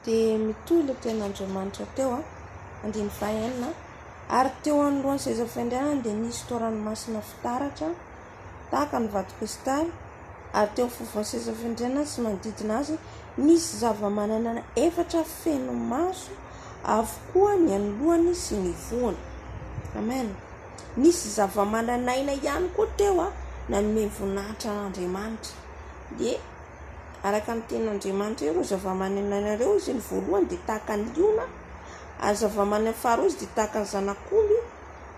Dia mitohy ilay tenin'Andriamanitra teo. Andininy fahenina, Ary teo anoloan'ny sezafiandrianany dia nisy toa ranomasina fitaratra, tahaka ny vato krisitaly, ary teo afovoan'ny sezafiandrianany sy manodidina azy nisy zava-manana efatra feno maso avokoa ny an'ny lohany sy ny vohony. Amen. Nisy zava-manan'aina ihany koa teo nanome voninahitra an'Andriamanitra. Dia. Araka ny tenin'Andriamanitra eo ireo zavamaneno hainareo, hoy izy, ny voalohany dia tahaka ny liona, ary ny zavamaneno faharoa izy dia tahaka ny zanak'omby,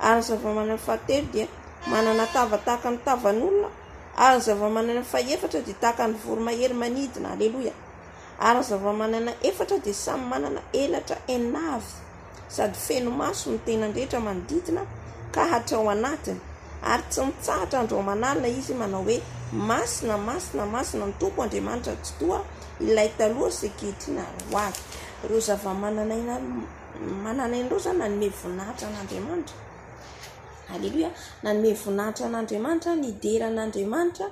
ary ny zavamaneno fahatelo dia manana tava tahaka ny tavan'olona, ary ny zavamaneno fahefatra dia tahaka ny voromahery manidina. Aleloia! Ary ny zavamaneno efatra dia samy manana elatra enina avy. sady feno maso ny tenany rehetra manodidina ka hatrao anatiny, ary tsy mitsahatra andro aman'alina izy manao hoe, Masina, masina, masina ny Tompo Andriamanitra tsy toa ilay taloha sy ankehitriny ary ho avy. Ireo zava-manan'aina manan'aina ireo izany nanome voninahitra an'Andriamanitra. Aleloia, nanome voninahitra an'Andriamanitra, nidera an'Andriamanitra.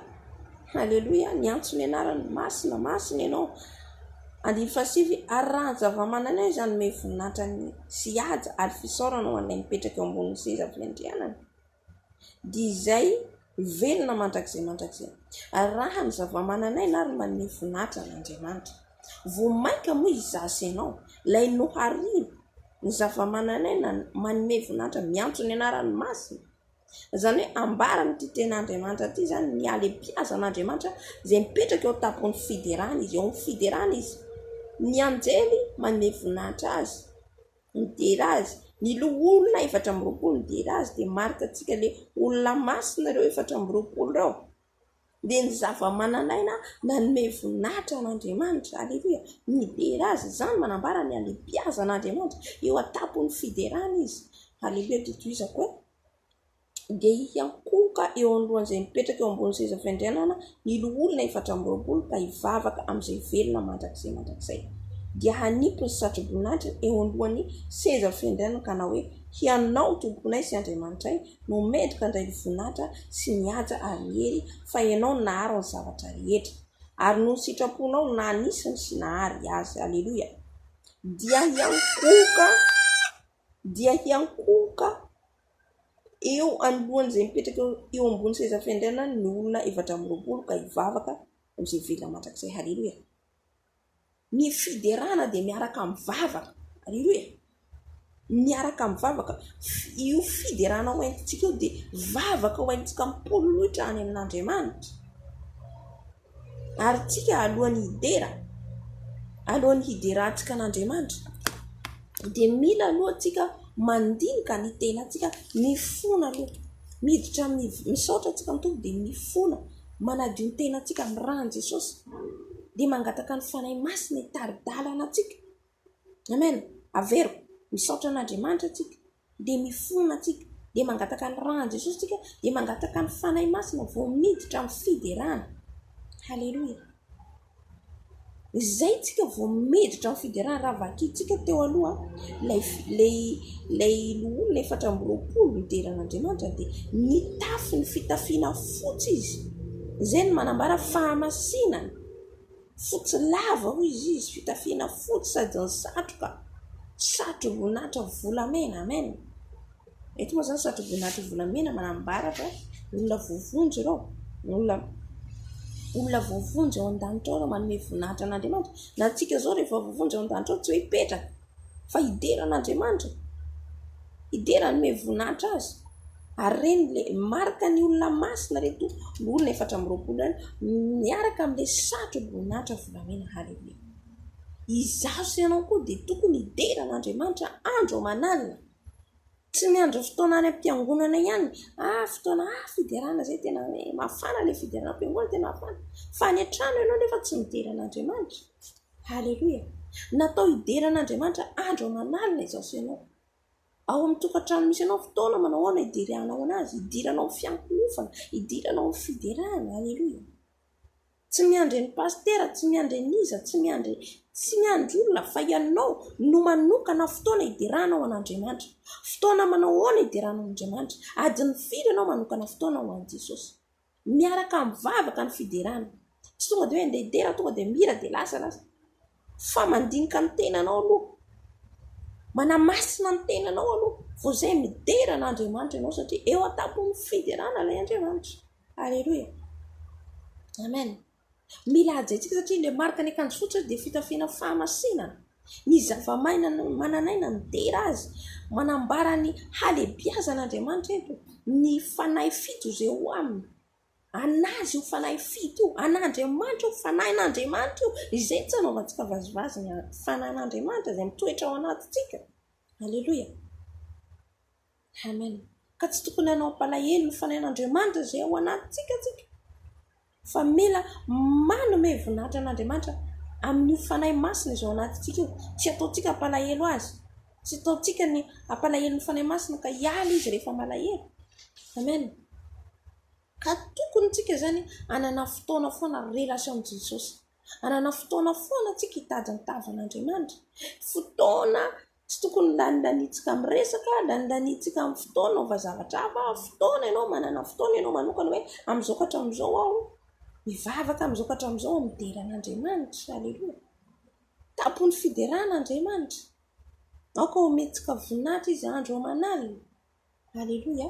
Aleloia, niantso ny anarany, masina, masina ianao. Andininy fahasivy, Ary raha ny zavamananaina izany hanome voninahitra sy haja ary fisaorana ho an'ilay mipetraka eo ambonin'ny seza fiandrianana, dia izay ho velona mandrakizay mandrakizay. Ary raha ny zavamananaina ary no manome voninahitra an'Andriamanitra, vao mainka moa izaho sy ianao, ilay nohariany ny zavamananaina manome voninahitra miantso ny anarany masina, Izany hoe ambaran'ity tenin'Andriamanitra ity izany ny halehibiazan'Andriamanitra izay mipetraka eo an-tampon'ny fiderany izy, eo amin'ny fiderany izy. Ny anjely manome voninahitra azy, midera azy. Ny loholona efatra amby roapolo midera azy dia marika antsika hoe olona masina ireo efatra amby roapolo ireo. dia ny zavamananaina nanome voninahitra an'Andriamanitra. Aleloia! Midera azy izany, manambara ny halehibiazan'Andriamanitra. Eo an-tampon'ny fiderana izy. Aleloia! Dia tohizako hoe, Dia hiankohoka eo anoloan'izay mipetraka eo ambonin'ny seza fiandrianana ny loholona efatra amby roapolo ka hivavaka amin'izay velona mandrakizay mandrakizay. Dia hanipy ny satroboninahitra eo anoloan'ny seza fiandrianana ka hanao hoe, Hianao, Tomponay sy Andriamanitray, no medoka indray ny voninahitra sy ny haja ary ny hery fa ianao naharo ny zavatra rehetra ary noho ny sitraponao naha nisy ny sy nahary azy aleloia dia hiankohoka dia hiankohoka eo anoloan'izay mipetraka eo ambony seza fiandrianany ny olona efatra amby roapolo ka hivavaka amin'izay velona mandrakizay haleloia Ny fiderana dia miaraka amin'ny vavaka. Aleloia! Miaraka amin'ny vavaka. Io fiderana ho entintsika io dia vavaka ho entintsika mipololoitra any amin'Andriamanitra. Ary tsika alohan'ny hidera, alohan'ny hiderantsika an'Andriamanitra, dia mila aloha tsika mandinika ny tenantsika, mifona aloha. Miditra amin'ny, misaotra antsika ny Tompo dia mifona. manadio ny tenantsika amin'ny ran'i Jesosy dia mangataka ny Fanahy Masina hitari-dalana antsika. Amen. Averiko, misaotra an'Andriamanitra tsika, dia mifona tsika, dia mangataka ny ran'i Jesosy tsika, dia mangataka ny Fanahy Masina vao miditra amin'ny fiderana. Haleloia. Izay tsika vao miditra amin'ny fiderana raha vakintsika teo aloha ilay ilay ilay loholona efatra amby roapolo midera an'Andriamanitra dia mitafy ny fitafiana fotsy izy, izay no manambara fahamasinana, fotsy lava hoy izy izy, fitafiana fotsy sady ny satroka, satroboninahitra volamena. Amen. Eto moa izany satry voninahitry ny volamena manambara fa olona voavonjy ireo, olona olona voavonjy ao an-danitra ao ireo manome voninahitra an'Andriamanitra. Na antsika izao rehefa voavonjy ao an-danitra ao tsy hoe hipetraka fa hidera an'Andriamanitra, hidera hanome voninahitra azy. Ary ireny ilay marika ny olona masina ireto olona efatra amby roapolo ireny miaraka amin'ilay satroboninahitra volamena. Haleloia. Izaho sy ianao koa dia tokony hidera an'Andriamanitra andro aman'alina. Tsy ny andro fotoana any am-piangonana ihany fa fotoana fiderana izay tena hoe mafana ilay fiderana am-piangonana tena mafana. Fa any an-trano ianao anefa tsy midera an'Andriamanitra. Haleloia. Natao hidera an'Andriamanitra andro aman'alina izao sy ianao. Ao amin'ny tokantrano misy anao fotoana manao ahoana hideranao an'Azy, hidiranao amin'ny fiankinofana, hidiranao amin'ny fiderana. Haleloia. Tsy miandry an'i Pasitera, tsy miandry an'iza, tsy miandry, tsy miandry olona fa ianao no manokana fotoana hideranao an'Andriamanitra. Fotoana manao ahoana hideranao an'Andriamanitra? Adin'ny firy ianao manokana fotoana ho an'i Jesosy? Miaraka amin'ny vavaka ny fiderana. Tsy tonga dia hoe andeha hidera, tonga dia mihira dia lasa lasa. fa mandinika ny tenanao aloha, manamasina ny tenanao aloha vao izay midera an' Andriamanitra ianao satria eo an-tampon'ny fiderana ilay Andriamanitra. Aleloia. Amen. Mila hajaintsika satria ilay marika ny akanjo fotsy dia fitafiana fahamasinana. Ny zava-maina manan'aina midera azy. Manambara ny halehibiazan' Andriamanitra eto, ny fanahy fito izay ao aminy. an'Azy io fanahy fito io, an'Andriamanitra io, fanahin'Andriamanitra io. Izay no tsy anaovantsika vazivazy ny fanahin'Andriamanitra izay mitoetra ao anatintsika. Aleloia. Amen. Ka tsy tokony hanao am-palahelo ny fanahin'Andriamanitra izay ao anatintsika tsika, fa mila manome voninahitra an'Andriamanitra amin'io fanahy masina izay ao anatintsika io. Tsy ataontsika am-palahelo Azy. Tsy ataontsika ny hampalahelo ny Fanahy Masina ka hiala Izy rehefa malahelo. Amen. Ka tokony tsika izany hanana fotoana foana relation amin'i Jesosy. Hanana fotoana foana tsika hitady ny tavan'Andriamanitra. Fotoana tsy tokony lanindanintsika amin'ny resaka, lanindanintsika amin'ny fotoana hanaova zavatra hafa. Fotoana ianao manana fotoana ianao manokana hoe amin'izao ka hatramin'izao aho mivavaka, amin'izao ka hatramin'izao aho midera an'Andriamanitra. Aleloia. Tampon'ny fiderana Andriamanitra. Aoka homentsika voninahitra Izy andro aman'alina. Aleloia.